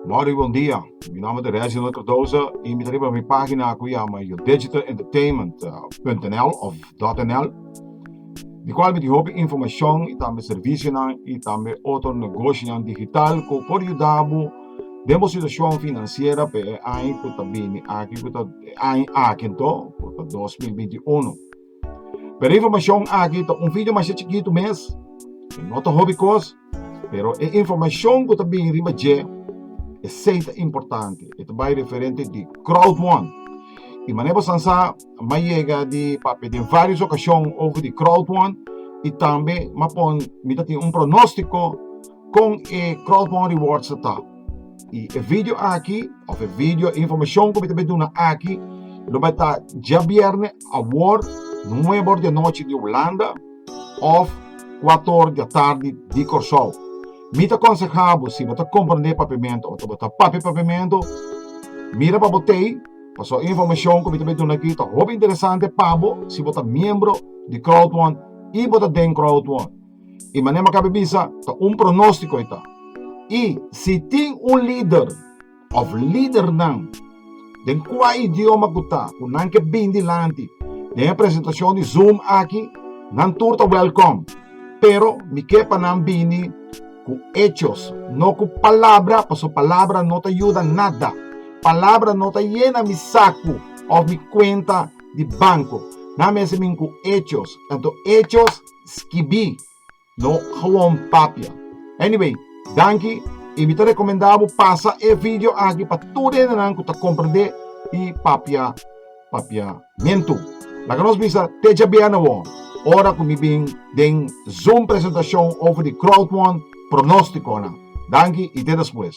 Mari, bon dia. Mi nomber ta Reginald Cardoza y mi ta riba mi pagina cu yama yodigitalentertainment.nl of .nl di cual mi tin hopi informacion y tambe servicionan y tambe otro negocionan digital cu por yudabo den bo situacion financiera pa e aña cu ta bini aki cu ta e aña aki anto cu ta dos mil binti unu. Pero e informashon aki ta un video masha chikitu mes. E no ta hopi kos, pero e informashon ku ta bini riba dje, esei ta importante. E ta bai referente di Crowdmon. I manera bo san sa, m'a yega di papia den vários okashon over di Crowdmon i tambe m'a pon mi ta tin un pronóstiko kon e Crowdmon Rewards ta ta. Y e video aki of e video, e informacion cu mi ta bay duna aki lo bay ta diabiernes awor nuebe or di anochi di Hulanda of cuatro or di atardi di Corsou. Mi ta aconseha bo si bo ta comprende Papiamento of ta bo ta papia Papiamento mira pa bo tey pasobra e informacion cu mi ta bay duna aki ta hopi interesante pa bo si bo ta miembro di Crowd One y bo ta den Crowd One. I mané Makabe bisa, ta un pronóstiko e ta. I si tin un lider òf lidernan den kua idioma ku ta ku nan ke bin dilanti den e presentashon di Zoom aki, nan tur ta wèlkòm. Pero mi ke pa nan bini ku echos, no ku palabra, pasobra palabra no ta yuda nada. Palabra no ta yena mi saku òf mi kuenta di banko. Nan mester bin ku echos, tantu echos, Skibí no gewoon papia. Anyway, danki i mi ta rekomendá bo pasa e video aki pa tur hendenan ku ta komprendé i papia papiamentu. Laga nos bisa te djabe'a na wòr ora ku mi bin den Zoom presentashon over di Crowdwon pronóstikonan. Danki i te despues.